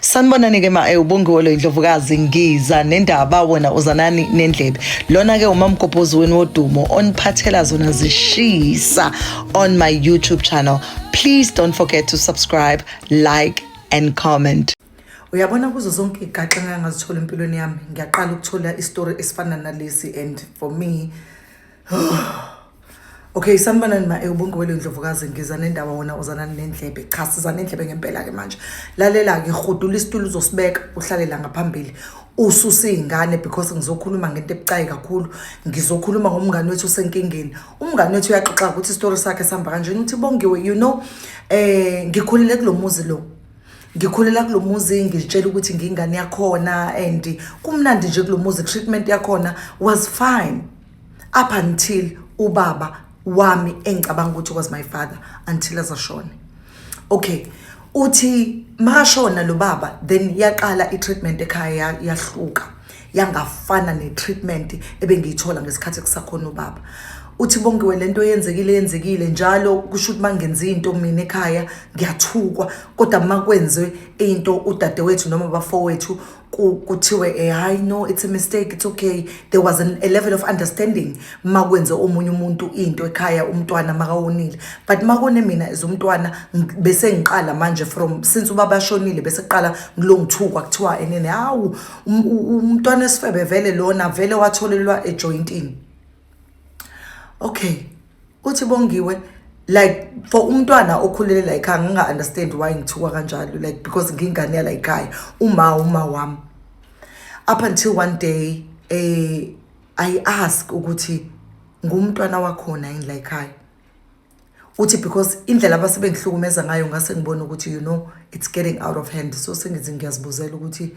sanibonani ke ma eh, ubongiwe lo indlovukazi ngiza nendaba wena uzanani nendlebe lona ke umamgobhozi wenu wodumo oniphathela zona zishisa on my youtube channel please don't forget to subscribe like and comment uyabona kuzo zonke igaxa ngangazithola empilweni yami ngiyaqala ukuthola isitori esifana nalesi and for me okay sanibonani ma ewubungowele ndlovukazi ngiza nendaba wona uzanani nendlebe cha siza nendlebe ngempela-ke manje lalela-ke rhudula isitulo uzosibeka uhlale la ngaphambili ususe iy'ngane because ngizokhuluma ngento ebucayi kakhulu ngizokhuluma ngomngane wethu usenkingeni umngane wethu uyaxoxa ukuthi isitori sakhe sihamba kanjeni ukuthi bongiwe you know um ngikhulele kulo muzi lo ngikhulela kulo muzi ngizitshela ukuthi ngingane yakhona and kumnandi nje kulo muzi treatment yakhona was fine up until ubaba wami engicabanga ukuthi was my father until azashone okay uthi makashona lo baba then yaqala i-treatment ekhaya yahluka yangafana ne-treatment ebengiyithola ngesikhathi kusakhona ubaba uthi bongiwe lento yenzekile yenzekile njalo kusho ukuthi mangenza into mina ekhaya ngiyathukwa kodwa makwenze into udadewethu noma bafowethu kuthiwe eh, hayi no it's a mistake it's okay there was an, a level of understanding ma kwenze omunye umuntu into ekhaya umntwana makawonile but makone mina as umntwana bese ngiqala manje from since ubaba shonile bese kuqala ngilongithukwa kuthiwa enene hawu um, umntwana esifebe vele lona vele watholelwa ejointini okay uthi bongiwe like for umntwana okhulele la ekhaya nginga-understand why ngithiwa kanjalo like because ngingane yala ekhaya uma uma wami up until one day eh i ask ukuthi ngumntwana wakhona yini la ekhaya uthi because indlela abasebengihlukumeza ngayo ngase ngibona ukuthi you know it's getting out of hand so sengithi ngiyazibuzela ukuthi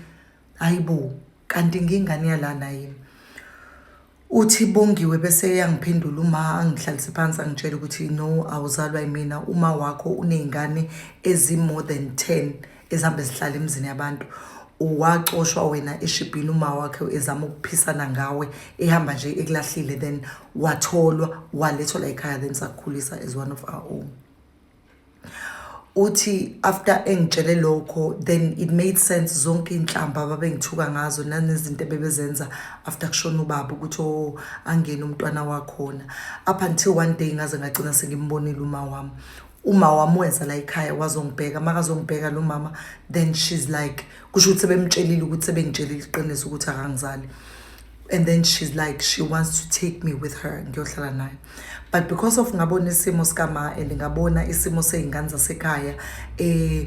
hayibo kanti ngingane yalana yini Uthi Bongiwe bese eyangiphendula uma angihlalise phansi angitshela ukuthi no awuzalwa yimina uma wakho uney'ngane ezi-more than 10 ezihambe zihlala emizini yabantu wacoshwa wena eshibhini uma wakhe ezama ukuphisana ngawe ehamba nje ekulahlile then watholwa walethwa la ekhaya then sakukhulisa as one of our own uthi after engitshele lokho then it made sense zonke iy'nhlamba ababengithuka ngazo nanezinto ebebezenza after kushona ubaba ukuthi o oh, angene umntwana wakhona up until one day ngaze ngagcina sengimbonile uma wami uma wami weza la ekhaya wazongibheka makazongibheka lo mama then she's like kusho ukuthi sebemtshelile ukuthi sebengitshelile iqiniso ukuthi akangizali and then she's like she wants to take me with her ngiyohlala naye but because of ngabona isimo sikama and ngabona isimo sey'ngane zasekhaya eh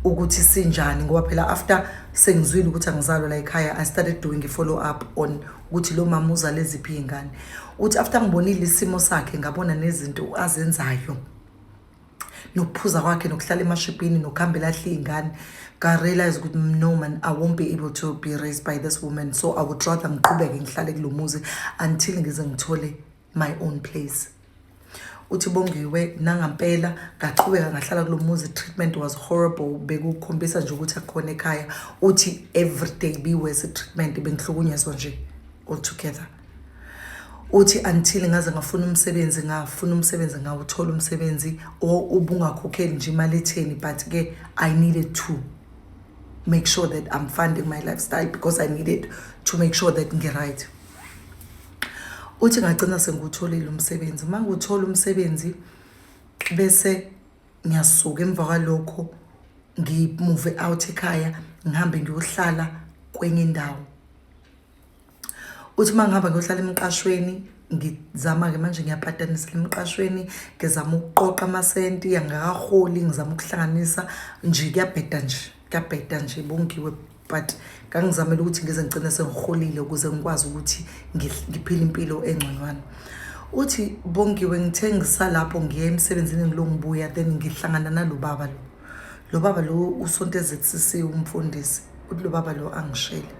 ukuthi sinjani ngoba phela after sengizwile ukuthi angizalwa la ekhaya i started doing a follow up on ukuthi lo mama uzale ziphi iy'ngane uthi after ngibonile isimo sakhe ngabona nezinto azenzayo nokuphuza kwakhe nokuhlala emashibhini nokuhambela ahle iy'ngane ngarealize ukuthi no man i won't be able to be raised by this woman so i would rather ngiqhubeke ngihlale kulo muzi until ngize ngithole my own place uthi bongiwe nangampela ngaqhubeka ngahlala kulo muzi treatment was horrible bekukhombisa nje ukuthi akukhona ekhaya uthi everyday be worse treatment bengihlukunyezwa nje altogether uthi until ngaze ngafuna umsebenzi ngafuna umsebenzi ngawuthola umsebenzi or ubungakhokheli nje imali etheni but ke i needed to make sure that i'm funding my lifestyle because i needed to make sure that ngi-right uthi ngagcina sengiwutholile umsebenzi uma ngiwuthola umsebenzi bese ngiyasuka emva kwalokho ngimuve out ekhaya ngihambe ngiyohlala kwenye indawo uthi uma ngihamba ngiyohlala emqashweni ngizama-ke manje ngiyapatanisa emqashweni ngizama ukuqoqa amasenti angakaholi ngizama ukuhlanganisa nje kuyabheda nje kuyabheda nje bongiwe but ngangizamele ukuthi ngize ngigcine sengiholile ukuze ngikwazi ukuthi ngiphile impilo engconywana uthi bongiwe ngithe ngisalapho ngiye emsebenzini ngilo ngibuya then ngihlangana nalo baba lo lo baba lo usontezekisisiwe umfundisi uthi lo baba lo angishele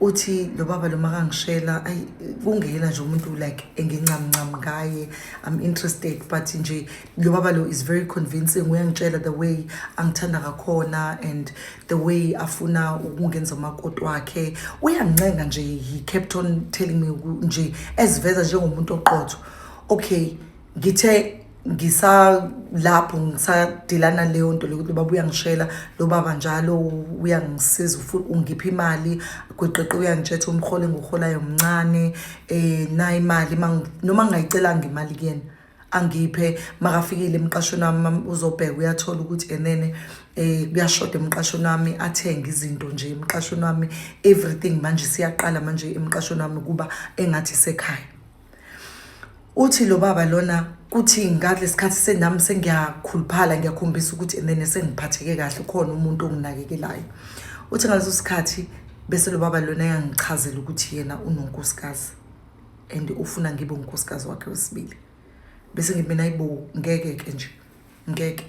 uthi lo baba lo makangishela ayi kungena nje umuntu like engincamuncam ngaye i'm interested but nje lo baba lo is very convincing uyangitshela the way angithanda ngakhona and the way afuna ukungenza umakoti wakhe uyangincenga nje he kept on telling me nje eziveza njengomuntu oqotho okay ngithe ngisalapho ngisadilana leyo nto lokuthi ubaba uyangishela lo baba njalo uyangisiza ungipha imali gweqeqe uyangitshetha umhole engiwuholayo mncane um nayo imali noma ngingayicelanga imali kuyena angiphe makafikile emqashweni wami uzobheka uyathola ukuthi enene eh kuyashoda emqashweni wami athenge izinto nje emqashweni wami everything manje siyaqala manje emqashweni wami kuba engathi sekhaya uthi lo baba lona kuthi ngalesi sikhathi senami sengiyakhuluphala ngiyakhombisa ukuthi and then sengiphatheke kahle khona umuntu onginakekelayo uthi ngaleso sikhathi bese lo baba lona yangichazela ukuthi yena unonkosikazi and ufuna ngibe unkosikazi wakhe wesibili bese ngithi mina ayibo ngeke ke nje ngeke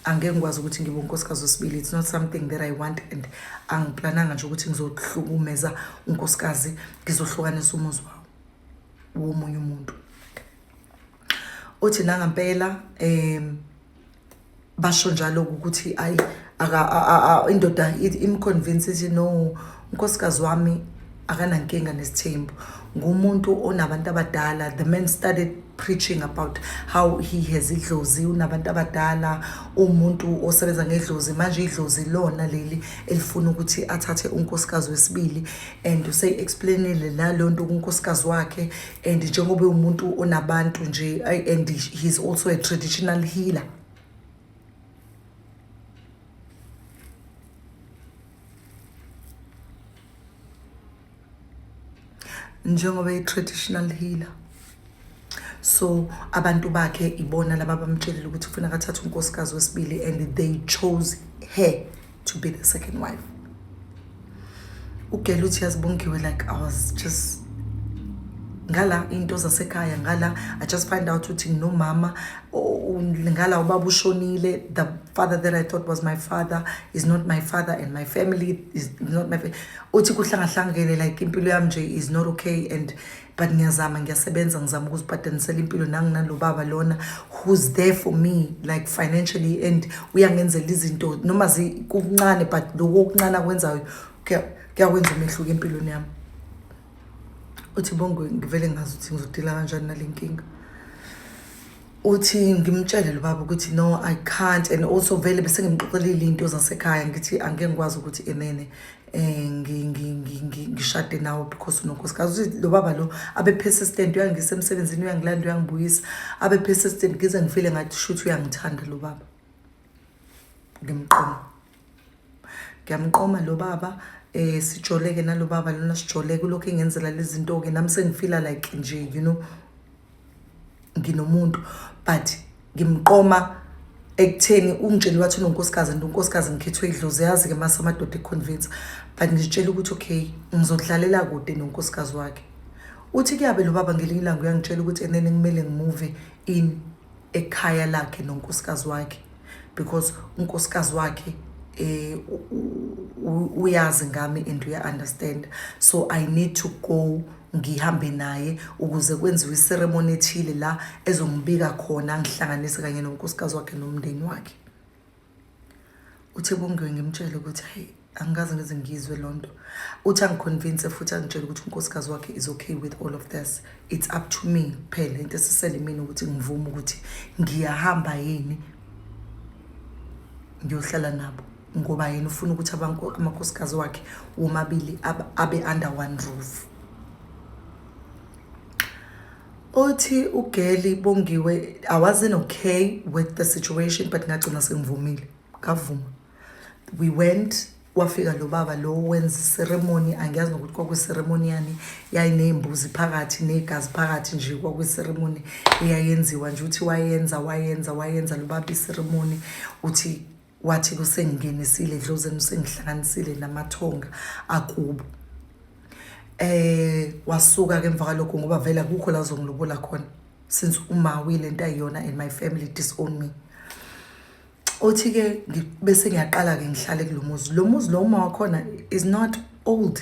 angeke ngikwazi ukuthi ngibe unkosikazi wesibili it's not something that i want and angiplananga nje ukuthi ngizohlukumeza unkosikazi ngizohlukanisa umuzi wawo womunye umuntu uthi nangampela um basho njalo ukuthi ayi indoda imconvince ithi no unkosikazi wami akanankinga nesithembu ngumuntu onabantu abadala the man started preaching about how he has idlozi unabantu abadala umuntu osebenza ngedlozi manje idlozi lona leli elifuna ukuthi athathe unkosikazi wesibili and useyi-explainile naleyo nto kunkosikazi wakhe and njengoba umuntu onabantu nje and he's also a traditional healer njengoba i-traditional healer so abantu bakhe ibona laba bamtshelile ukuthi kufuneka athathe unkosikazi wesibili and they chose her to be the second wife ugela uthi yazibongiwe like i was just ngala into zasekhaya ngala i just find out ukuthi nginomama ngala ubaba ushonile the father that i thought was my father is not my father and my family is not my uthi kuhlangahlangene like impilo yami nje is not okay and but ngiyazama ngiyasebenza ngizama ukuzibhadanisela impilo nanginalobaba lona who's there for me like financially and uyangenzela izinto noma zikuncane but loko okuncane akwenzayo kuyakwenza umehluko empilweni yami uthi bongo ngivele ngazi ukuthi ngizodila kanjani nale nkinga uthi ngimtshele lo baba ukuthi no i can't and also vele bese ngimxoxelile into zasekhaya ngithi angeke ngikwazi ukuthi enene um ngishade nawo because unonkosikazi uthi lo baba lo abe persistent uyangisa emsebenzini uyangilanda uyangibuyisa abe persistent ngize ngifile ngathi shuthi uyangithanda lo baba ngimqoma ngiyamqoma lo baba eh sijoleke nalo baba lona sijoleke lokho engenzela lezi zinto ke nami sengifila like nje you know nginomuntu but ngimqoma ekutheni ungitshele wathi unonkosikazi and unkosikazi ngikhethwe idlozi yazi-ke mase amadoda econvince but ngitshele ukuthi okay ngizodlalela kude nonkosikazi wakhe uthi kuyabe lo baba ngelinye ilanga uyangitshela ukuthi enene kumele ngimuve in ekhaya lakhe nonkosikazi wakhe because unkosikazi wakhe eh uyazi ngami and uya understand so i need to go ngihambe naye ukuze kwenziwe iceremony ethile la ezombika khona ngihlanganise kanye nonkosikazi wakhe nomndeni wakhe uthe bongiwe ngimtshele ukuthi hey angikaze ngize ngizwe loo nto uthi angiconvince futhi angitshele ukuthi unkosikazi wakhe is okay with all of this it's up to me kuphela into esisele mina ukuthi ngivume ukuthi ngiyahamba yini ngiyohlala nabo ngoba yena ufuna ukuthi amakhosikazi wakhe womabili abe under one roof othi ugeli bongiwe i wasn't okay with the situation but ngagcina sengivumile ngavuma we went kwafika lo baba lo wenza iseremoni angiyazi nokuthi kwakwiseremoni yani yayiney'mbuzi phakathi ney'gazi phakathi nje kwakwiseremoni eyayenziwa nje uthi wayenza wayenza wayenza lo baba iseremoni uthi wathi kusengingenisile edlozeni usengihlanganisile namathonga akubo eh wasuka ke emva kwalokho ngoba vele akukho la zongilobola khona since uma uyile nto ayiyona and my family disown me othi ke bese ngiyaqala ke ngihlale kulomuzi lo muzi lo uma wakhona is not old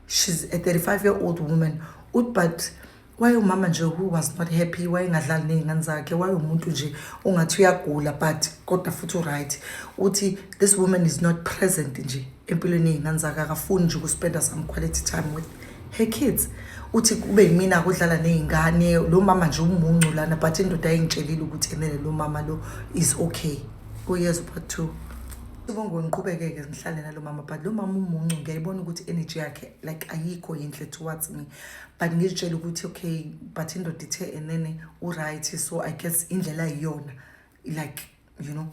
she's a 35 year old woman uthi but wayewumama nje who was not happy wayengadlali ney'ngane zakhe wayewumuntu nje ungathi uyagula but kodwa futhi uright uthi this woman is not present nje empilweni yey'ngane zakhe akafuni nje ukuspenda some quality time with her kids uthi kube yimina kudlala ney'ngane lo mama nje umuncu lana but indoda ayingitshelile ukuthi enele lo mama lo is okay uyezwa part two Sibongo ngiqhubekeke ngihlale nalo mama but lo mama umuncu ngiyayibona ukuthi energy yakhe like ayikho yinhle towards me but ngizitshela ukuthi okay but indoda ithe enene uright so i guess indlela iyona like you know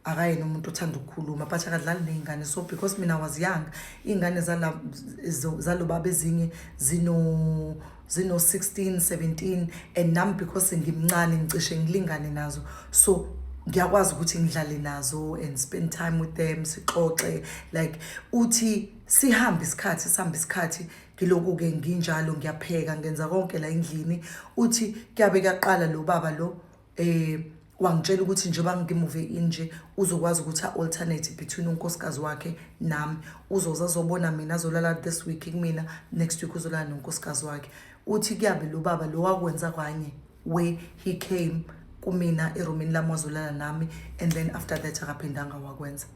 akayena umuntu othanda ukukhuluma but akadlali ney'ngane so because mina was young iy'ngane zalobaba ezinye zino zino-16 17 and nam because ngimncane ngicishe ngilingane nazo so ngiyakwazi ukuthi ngidlale nazo and spend time with them sixoxe like uthi sihambe isikhathi sihambe isikhathi ngiloku-ke nginjalo ngiyapheka ngenza konke la endlini uthi kuyabe kuyaqala lo baba lo um wangitshela ukuthi njengoba ngimuve inje uzokwazi ukuthi a-alternate between unkosikazi wakhe nami uzoze azobona mina azolala this week kumina next week uzolala nonkosikazi wakhe uthi kuyabe lo baba lo wakwenza kwanye where he came kumina erumini lami wazolala nami and then after that akaphindanga wakwenza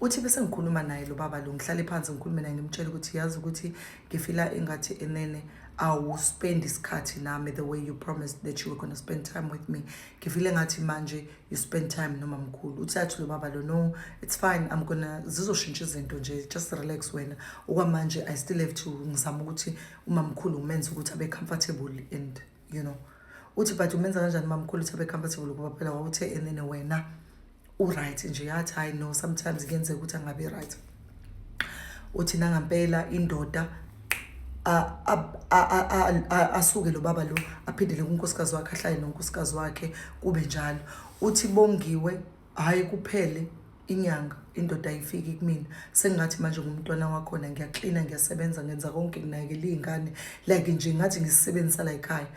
uthi bese ngikhuluma naye lo baba lo ngihlale phansi ngikhulume naye ngimtshele ukuthi yazi ukuthi ngifila engathi enene awuspend isikhathi nami the way you promised that you were going to spend time with me ngifile ngathi manje you spend time noma mkhulu uthi athi lo baba lo no it's fine i'm gonna zizoshintsha izinto nje just relax wena okwamanje i still have to ngizama ukuthi uma mkhulu ngimenza ukuthi abe comfortable and you know uthi but umenza kanjani mamkhulu uthe becomfortable ukuba phela wawuthe and then wena uright nje yathi hayi no sometimes kuyenzeka ukuthi angabi right uthi nangampela indoda asuke lo baba lo aphindele kunkosikazi wakhe ahlale nonkosikazi wakhe kube njalo uthi bongiwe hhayi kuphele inyanga indoda ayifiki kumina sengathi manje ngumntwana wakhona ngiyaklina ngiyasebenza ngenza konke nginakekela iy'ngane like nje ngathi ngisisebenzisa la yikhaya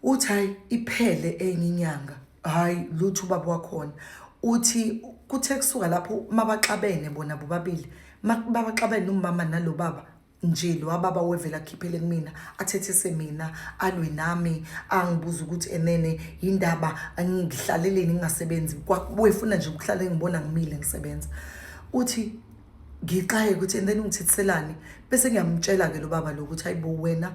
uthi hhayi iphele enye inyanga hhayi lutho ubaba wakhona uthi kuthe kusuka lapho mabaxabene bona bobabili mabaxabene umama nalo baba nje lo ababa wevela akhiphele kumina athethese mina alwe nami angibuza ukuthi enene yindaba ngihlaleleni ngingasebenzi wefuna nje ukuhlala ngibona ngimile ngisebenza uthi ngixaye ukuthi and then ungithethiselani bese ngiyamtshela ke lo baba lo ukuthi hayibo wena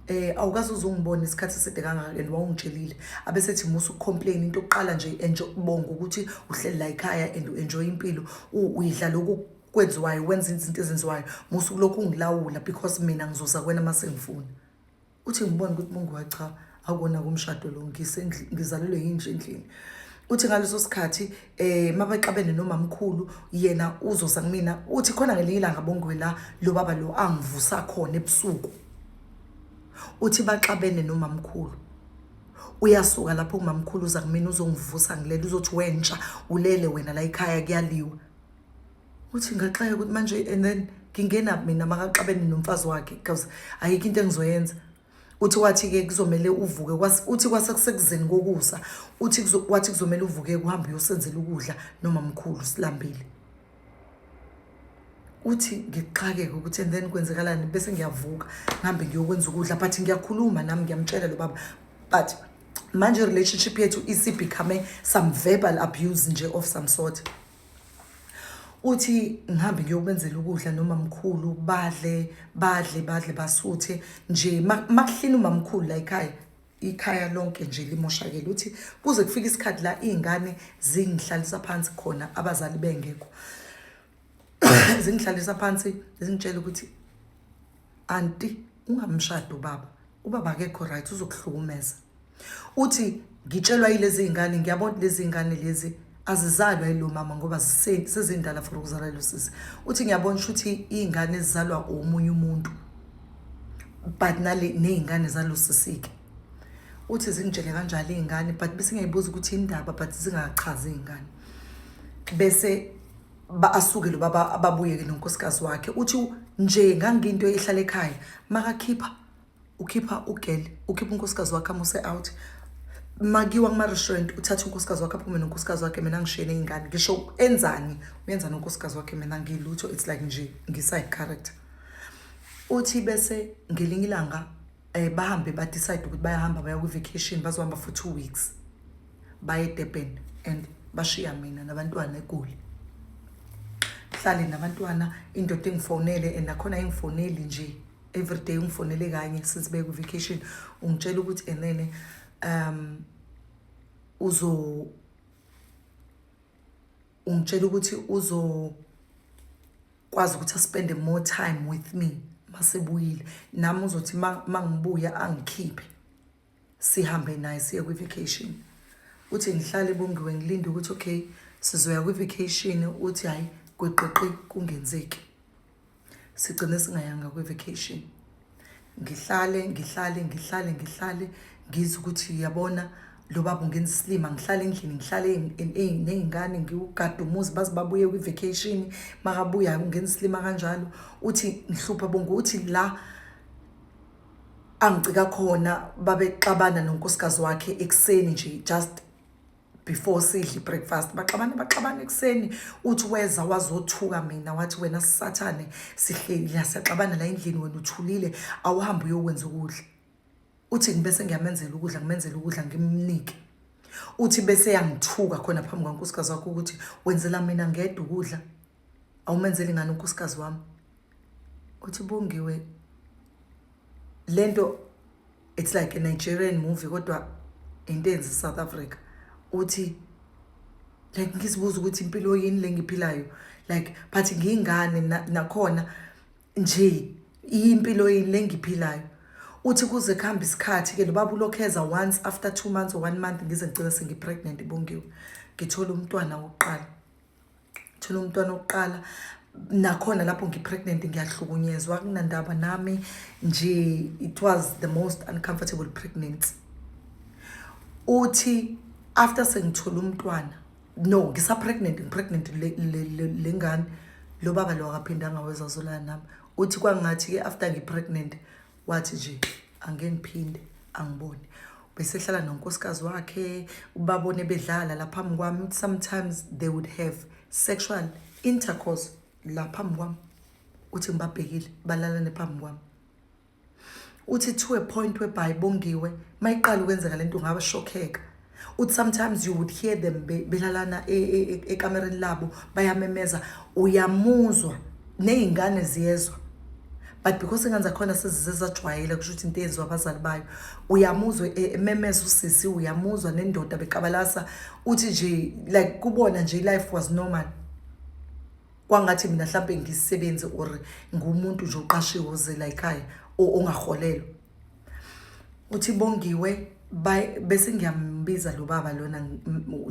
eh awukaze uzungibona isikhathi eside kangaka and wawungitshelile abesethi musa ukucomplain into yokuqala nje enjoy ukubonga ukuthi uhleli la ekhaya and uenjoy impilo uyidla lokhu kwenziwayo wenza izinto ezenziwayo musa ukulokhu ungilawula because mina ngizoza kwena uma sengifuna uthi ngibone ukuthi mungu cha akona kumshado lo ngizalelwe yinje endlini uthi ngaleso sikhathi eh mabaxabene nomamkhulu yena uzoza kumina uthi khona ngelinye ilanga bongwe la lo baba lo angivusa khona ebusuku uthi baxabene nomamkhulu uyasuka lapho umamkhulu uza kumina uzongivusa ngilele uzothi wentsha ulele wena la ekhaya kuyaliwa uthi ngaxaka ukuthi manje and then ngingenaphi mina makaxabene nomfazi wakhe because ayikho into engizoyenza uthi wathi-ke kuzomele uvuke uthi kwase kusekuzeni kokusa uthi wathi kuzomele uvuke kuhambe uyosenzela ukudla noma mkhulu silambile uthi ngixakeke ukuthi and then kwenzekalani bese ngiyavuka ngihambe ngiyokwenza ukudla but ngiyakhuluma nami ngiyamtshela lo baba but manje relationship yethu isibecome some verbal abuse nje of some sort uthi ngihambe ngiyokwenzela ukudla nomamkhulu badle badle badle basuthe nje makuhlina umamkhulu la ekhaya ikhaya lonke nje limoshakele uthi kuze kufike isikhathi la izingane zingihlalisa phansi khona abazali bengekho zingihlalisa phansi zingitshela ukuthi anti ungamshadi ubaba ubaba akekho right uzokuhlukumeza uthi ngitshelwa yilezi zingane ngiyabona lezi zingane lezi azizalwa yilo mama ngoba sezindala for ukuzalwa yilo sisi uthi ngiyabona ukuthi izingane ezizalwa omunye umuntu but nale nezingane zalo sisike uthi zingitshele kanjalo izingane but bese ngiyibuza ukuthi indaba but zingachazi izingane bese ba asuke lo baba ababuye ke nonkosikazi wakhe uthi nje ngangiyinto ehlala ekhaya makakhipha ukhipha ugel ukhipha unkosikazi wakhe amuse out makiwa kuma-restaurant uthatha unkosikazi wakhe aphume nonkosikazi wakhe mina ngishiyene iy'ngane ngisho enzani uyenza nonkosikazi wakhe mina ngilutho it's like nje ngiside character uthi bese ngelinye ilanga um bahambe badecide ukuthi bayahamba baya kwi-vacation bazohamba for two weeks baye edurban and bashiya mina nabantwana egoli hlale nabantwana indoda engifonele and nakhona engifoneli nje everyday ungifonele kanye since beye kwi-vacation ungitshela ukuthi enene um uzo ungitshela ukuthi uzo kwazi ukuthi aspende more time with me masebuyile nami uzothi mangibuya angikhiphe sihambe naye siye kwi-vacation uthi ngihlale bongiwe ngilinde ukuthi okay sizoya kwi-vacation uthi hhayi gweqiqi kungenzeki sigcine singayanga kwi-vacation ngihlale ngihlale ngihlale ngihlale ngizwe ukuthi uyabona lo baba ungenza isilima ngihlale endlini ngihlale ney'ngane ngiwugade umuzi baze babuye kwi-vacation makabuya ungenza isilima kanjalo uthi ngihlupha bonke uthi la angicika khona babexabana nonkosikazi wakhe ekuseni nje just before sidle breakfast baxabane baxabane ekuseni uthi weza wazothuka mina wathi wena sisathane sihleli la siyaxabana la endlini wena uthulile awuhambe uyokwenza ukudla uthi ngibese ngiyamenzela ukudla ngimenzela ukudla ngimnike uthi bese yangithuka khona phambi kwankosikazi wakho ukuthi wenzela mina ngedwa ukudla awumenzeli ngani unkosikazi wami uthi bongiwe lento it's like a Nigerian movie kodwa into enzi South Africa uthi like ngisibuza ukuthi impilo yini lengiphilayo like but ngingane nakhona nje impilo yini lengiphilayo uthi kuze kuhamba isikhathi ke lobaba ulokheza once after 2 months or 1 month ngize ngicela sengipregnant bongiwe ngithola umntwana wokuqala thola umntwana wokuqala nakhona lapho ngipregnant ngiyahlukunyezwa kunandaba nami nje it was the most uncomfortable pregnancy uthi after sengithola umntwana no ngisapregnant ngipregnant le ngane lo baba lo akaphindanga wezazolala nami uthi kwangathi-ke after ngipregnant wathi nje angeke ngiphinde angibone besehlala nonkosikazi wakhe ubabone bedlala la phambi kwami sometimes they would have sexual intercourse la phambi kwami uthi ngibabhekile balalane phambi kwami uthi to a point whereby bongiwe mayiqala ukwenzeka lento ngaba shokheka uthi sometimes you would hear them belalana e, e, e, ekamereni labo bayamemeza uyamuzwa ney'ngane ziyezwa but because ingane zakhona sezize zajwayele kusho ukuthi into eyenziwa abazali bayo uyamuzwa e, ememeza usisi uyamuzwa nendoda bekabalasa uthi nje like kubona nje life was normal kwangathi mina mhlampe ngisebenzi or ngumuntu nje oqashiwe ozela ekhaya ongaholelwa uthi bongiwe bese ngiyambiza lo baba lona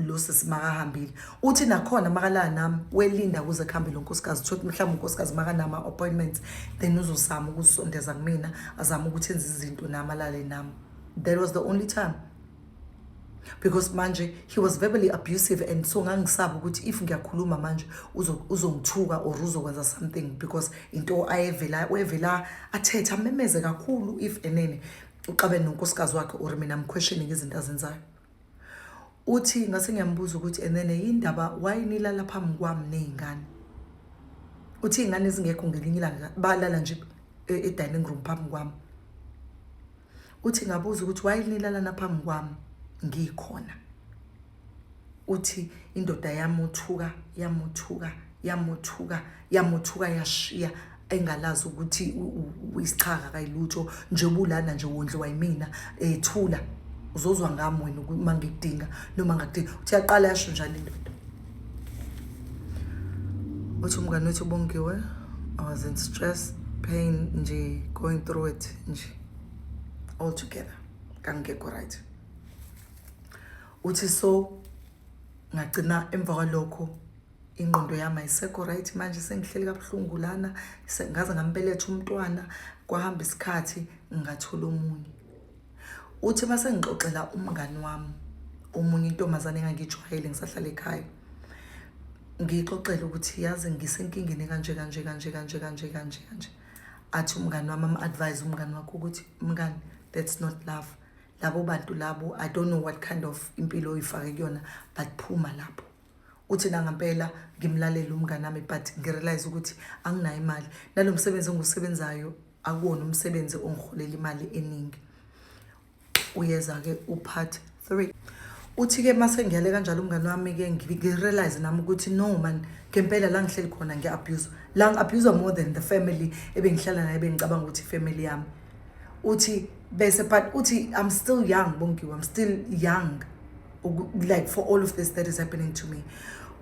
lo sisi makahambile uthi nakhona makalala nami welinda kuze kuhambe lo nkosikazi thothi mhlawumbe unkosikazi makanama appointments then uzozama ukusondeza kumina azama ukuthi enze izinto nami alale nami that was the only time because manje he was verbally abusive and so ngangisaba ukuthi if ngiyakhuluma manje uzongithuka or uzokwenza something because into ayevela wevela athethe amemeze kakhulu if enene uxabene nonkosikazi wakhe or mina mquestioning izinto azenzayo uthi ngase ngiyambuza ukuthi enene yindaba why nilala phambi kwami nezingane uthi ingane ezingekho ngelinye ilanga balala nje e-, e-dining room phambi kwami uthi ngabuza ukuthi why nilalana phambi kwami ngikhona uthi indoda yamuthuka yamuthuka yamuthuka yamuthuka yashiya engalazi ukuthi isichaka kayilutho njengoba ulana nje wondliwa yimina ethula uzozwa ngami wena uma ngikudinga noma ngakudinga uthi yaqala yasho njani indoda uthi umngane wethu ubongiwe i was in stress pain nje going through it nje all together kangikekho right uthi so ngagcina emva kwalokho ingqondo yami ayisekho right manje sengihleli kabuhlungu lana ngaze ngambeletha umntwana kwahamba isikhathi ngathola omunye uthi uma sengixoxela umngani wami omunye intombazane engangijwayele ngisahlala ekhaya ngiyixoxele ukuthi yazi ngisenkingeni kanje kanje kanje kanje kanje kanje kanje athi umngani wami am-advise umngani wakho ukuthi mngani that's not love labo bantu labo i don't know what kind of impilo oyifake kuyona but phuma lapho uthi nangampela ngimlalele umngane wami but ngirealize ukuthi anginayo imali nalo msebenzi engiwusebenzayo akuwona umsebenzi ongiholela imali eningi uyeza-ke upart three uthi-ke uma sengiyale kanjalo umngane wami-ke ngirealize nami ukuthi no man ngempela la ngihleli khona ngi-abhuzwa la ngi-abhuzwa more than the family ebengihlala naye bengicabanga ukuthi ifamily yami uthi bese but uthi i'm still young bongiwe i'm still young like for all of this that is happening to me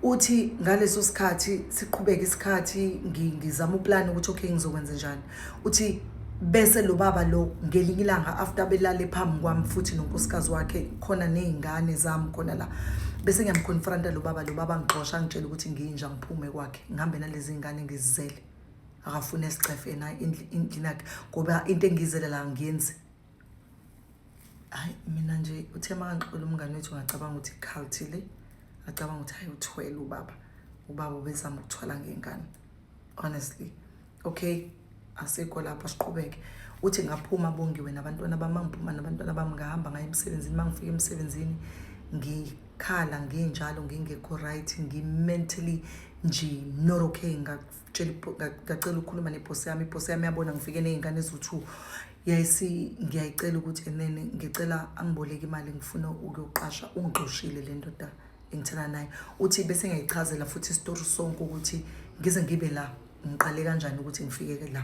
uthi ngaleso sikhathi siqhubeke isikhathi ngizama uplan ukuthi okay ngizokwenza njani uthi bese lo baba lo ngelinye ilanga after belale phambi kwami futhi nonkosikazi wakhe khona nezingane zami khona la bese ngiyamconfronta lo baba lo baba ngixosha ngitshela ukuthi nginja ngiphume kwakhe ngihambe nalezi ngane ngizizele akafune sicefe na indlinakhe ngoba into engizele la ngiyenzi hayi mina nje uthe makangixola umngane wethu ngacabanga ukuthi ikhalthi le ngacabanga ukuthi hayi uthwele ubaba ubaba ubezama ukuthwala ngengane honestly okay asikho lapha siqhubeke uthi ngaphuma bongiwe nabantwana bami ngiphuma nabantwana bami ngahamba ngaye emsebenzini uma ngifika emsebenzini ngikhala nginjalo ngingekho right ngi-mentally nje not okay ngacela ukukhuluma nebhosi yami ibhosi yami yabona ngifike ney'ngane eziwu-two yayisi ngiyayicela ukuthi enene ngicela angiboleke imali ngifuna ukuyoqasha ungixoshile le ndoda engithana naye uthi bese ngiyayichazela futhi isitori sonke ukuthi ngize ngibe la ngiqale kanjani ukuthi ngifike la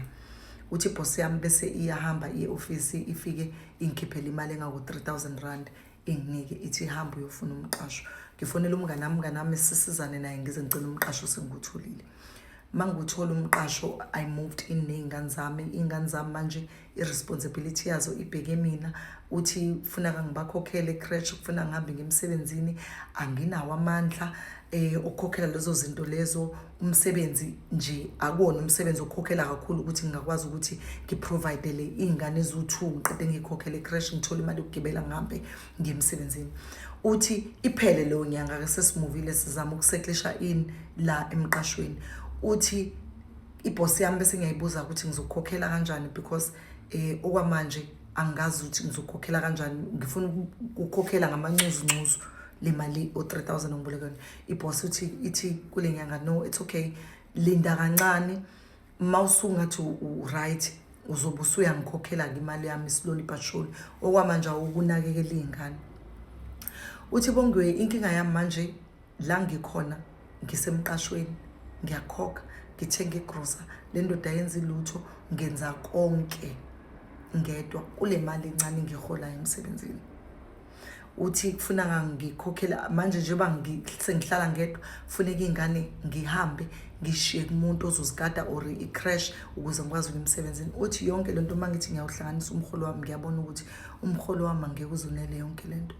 uthi ibhosi yami bese iyahamba iye ofisi ifike ingikhiphele imali engaku-3000 rand inginike ithi hamba uyofuna umqasho ngifonela umngane wami umngane wami sisizane naye ngize ngicela umqasho sengikutholile manguthola umqasho i moved in nezingane zami ingane zami manje iresponsibility yazo ibheke mina uthi ufuna kangibakhokhele ecresh ufuna ngihambe ngemsebenzini anginawo amandla eh okukhokhela lezo zinto lezo umsebenzi nje akuwona umsebenzi okhokhela kakhulu ukuthi ngingakwazi ukuthi ngiprovidele iy'ngane eziwu-two ngiqede ngiyikhokhele ecrash ngithole imali yokugibela ngihambe ngiye emsebenzini uthi iphele leyo nyanga-ke sesimuvile sizama ukuseklisha in la emqashweni uthi ibhosi yami bese ngiyayibuza ukuthi ngizokukhokhela kanjani because um okwamanje angazi ukuthi ngizokukhokhela kanjani ngifuna ukukhokhela ngamancuzu ncuzu le mali o-three thousand ongibolekweni ibhosi uthi ithi kule nyanga no it's okay linda kancane uma usungathi u-right uzobe usuyangikhokhela-ke imali yami slowly but surely okwamanje awukunakekela iy'ngane uthi bongiwe inkinga yami manje la ngikhona ngisemqashweni ngiyakhokha ngithenga igrosa le ndoda yenza ilutho ngenza konke ngedwa kule mali encane ngiholayo emsebenzini uthi kufuna ngikhokhele manje njengoba sengihlala ngedwa kufuneka iy'ngane ngihambe ngishiye kumuntu ozozigada or i-crash ukuze ngikwazi ukuya emsebenzini uthi yonke le nto uma ngithi ngiyawuhlanganisa umholo wami ngiyabona ukuthi umholo wami angeke uzonele yonke le nto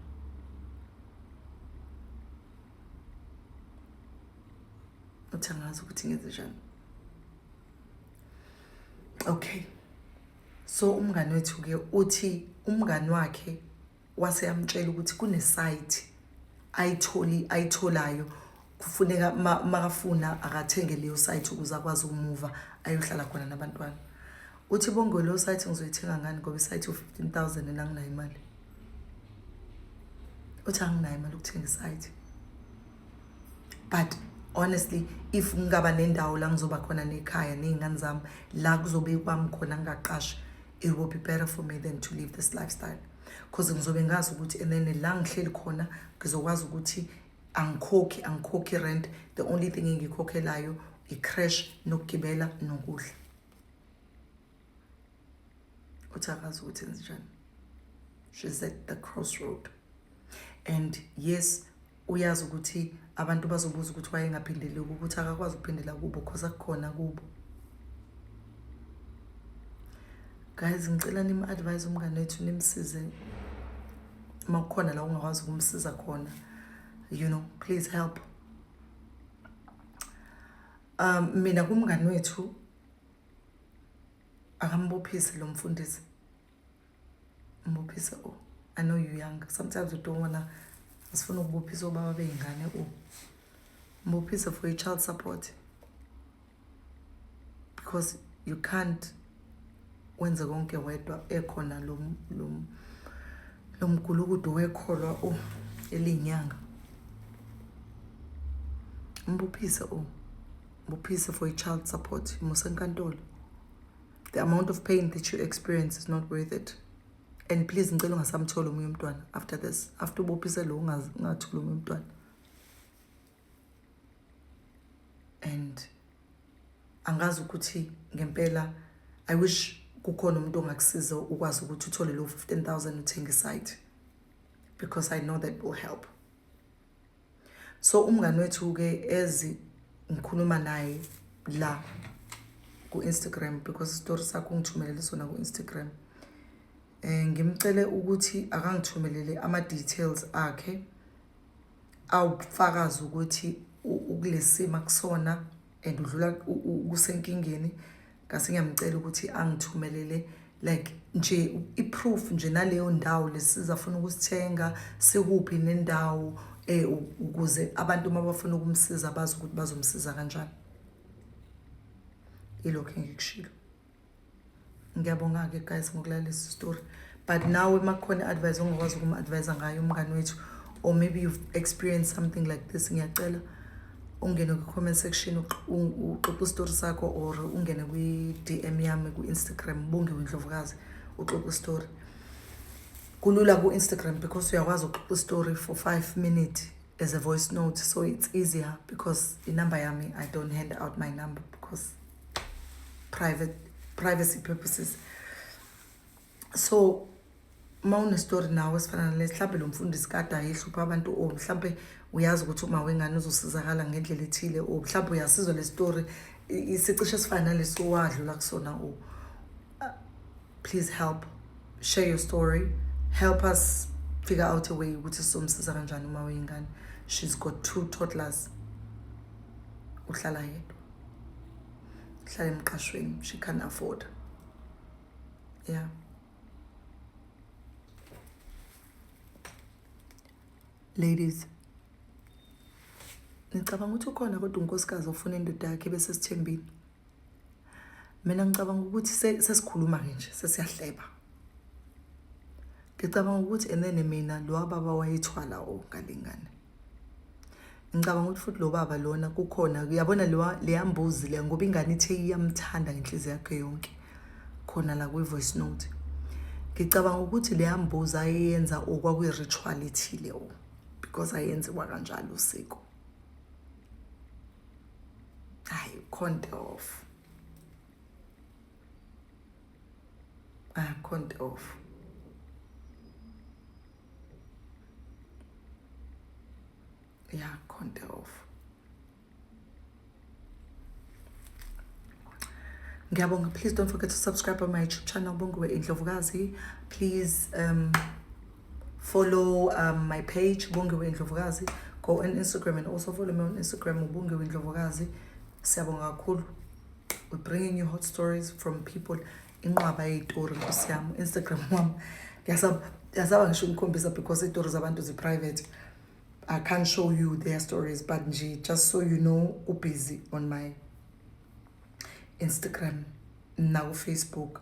uthi angazi ukuthi ngenze njani okay So umngani wethu ke uthi umngani wakhe wase yamtshela ukuthi kune site ayitholi ayitholayo kufuneka makafuna akathenge leyo site ukuze akwazi ukumuva ayohlala khona nabantwana uthi bongo leyo site ngizoyithenga ngani ngoba isite u-15000 and anginayo imali uthi anginayo imali ukuthenga isite but honestly if ngingaba nendawo la ngizoba khona nekhaya ney'ngane zami la kuzobe kwami khona ngingaqashi it will be better for me than to live this lifestyle because ngizobe ngazi ukuthi and then la ngihleli khona ngizokwazi ukuthi angikhokhi angikhokhi rent the only thing engiyikhokhelayo i-crash nokugibela nokudla uthi akazi ukuthi enzenjani she's at the crossroad and yes uyazi ukuthi abantu bazobuza ukuthi wayengaphindeli ukuthi akakwazi ukuphindela kubo cause akukhona kubo guys ngicela nim-advise umngane wethu nimsize uma kukhona la ungakwazi ukumsiza khona you know please help um mina kumngane wethu akambophise lo mfundisi mbophise u i know you young sometimes you don't wanna asifuna ukubophisa obaba bey'ngane u mbophise for i-child support because you can't wenze konke wedwa ekhona lo lo mgulukudu wekholwa u elinyanga mbuphise u Buphise for i-child support imuse enkantolo the amount of pain that you experience is not worth it and please ngicela ungasamthola omunye umntwana after this after ubophise lo ungathula omunye umntwana and angazi ukuthi ngempela i wish kukhona umuntu ongakusiza ukwazi ukuthi uthole lo 15000 uthenge isite because i know that will help So umngani wethu-ke as ngikhuluma naye la ku-Instagram because isitori sakho ungithumelele sona ku-Instagram. Eh ngimcele ukuthi akangithumelele ama details akhe awufakaza ukuthi ukulesima kusona and udlula kusenkingeni ngase ngiyamcela ukuthi angithumelele like nje i-proof nje naleyo ndawo lesizafuna ukusithenga sikuphi nendawo eh ukuze abantu uma bafuna ukumsiza bazi ukuthi bazomsiza kanjani ilokho engikushilo ngiyabonga-ke guys ngokulalisa story but nawe uma kukhona i-advise ongakwazi ukum-advise ngayo umngane wethu or maybe you've experienced something like this ngiyacela ungene kwi-comment section uxoxa isitori sakho or ungene kwi-d m yami ku-instagram ubongiwe ndlovukazi uxoxa isitori kulula ku-instagram because uyakwazi ukuxoxa isitori for five minutes as a voice note so it's easier because inumber yami i don't hand out my number because private privacy purposes so uma unestory nawe esifana nalesi mhlawumbe lo mfundisi kade ayehlupha abantu o mhlawumbe uyazi ukuthi uma wengane uzosizakala ngendlela ethile o mhlawumbe uyasizwa le story isicishe esifana nalesi owadlula kusona o please help share your story help us figure out a way ukuthi sizomsiza kanjani uma weyingane she's got two toddlers uhlala yedwa hlala emqashweni she can afford yeah ladies nicabanga ukuthi ukhona kodwa unkosikazi ofuna indoda yakhe bese sithembile mina ngicabanga ukuthi sesikhuluma ke nje sesiyahleba ngicabanga ukuthi enene mina lo baba wayethwala o ngalingane ngicabanga ukuthi futhi lo baba lona kukhona uyabona leya mbuzi leya ngoba ingane ithe iyamthanda ngenhliziyo yakhe yonke khona la kwi-voice note ngicabanga ukuthi leya mbuzi ayeyenza okwakwi-ritual ethile o because ayenziwa kanjalo usiko hayi ukhonte off akhonte off ya konta off ngiyabonga please don't forget to subscribe on my youtube channel bongiwe indlovukazi please um, follow um, my page bongiwe indlovukazi go on instagram and also follow me on instagram ubongiwe indlovukazi siyabonga kakhulu we're bringing you hot stories from people inqwaba yeyitori nkosi yam instagram wam ndiyasaba ngisho unikhombisa because iitori zabantu ziprivate i can't show you their stories but nje just so you know ubusy on my instagram nakufacebook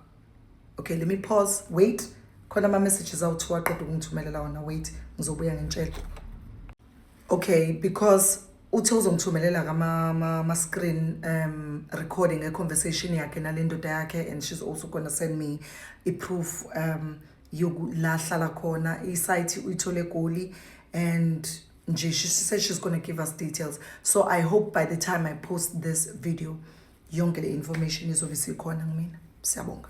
okay let me pause wait khona ama-messages awuthiwa aqeda ukungithumelela wona wait ngizobuya ngintshela okay because uthe uzongithumelela kama-screen um recording e-conversation yakhe nale ndoda yakhe and she's also gonna send me i-proof um la hlala khona isayithi uyithole egoli and nje she said she's gonna give us details so i hope by the time i post this video yonke le information izobe isikhona kumina siyabonga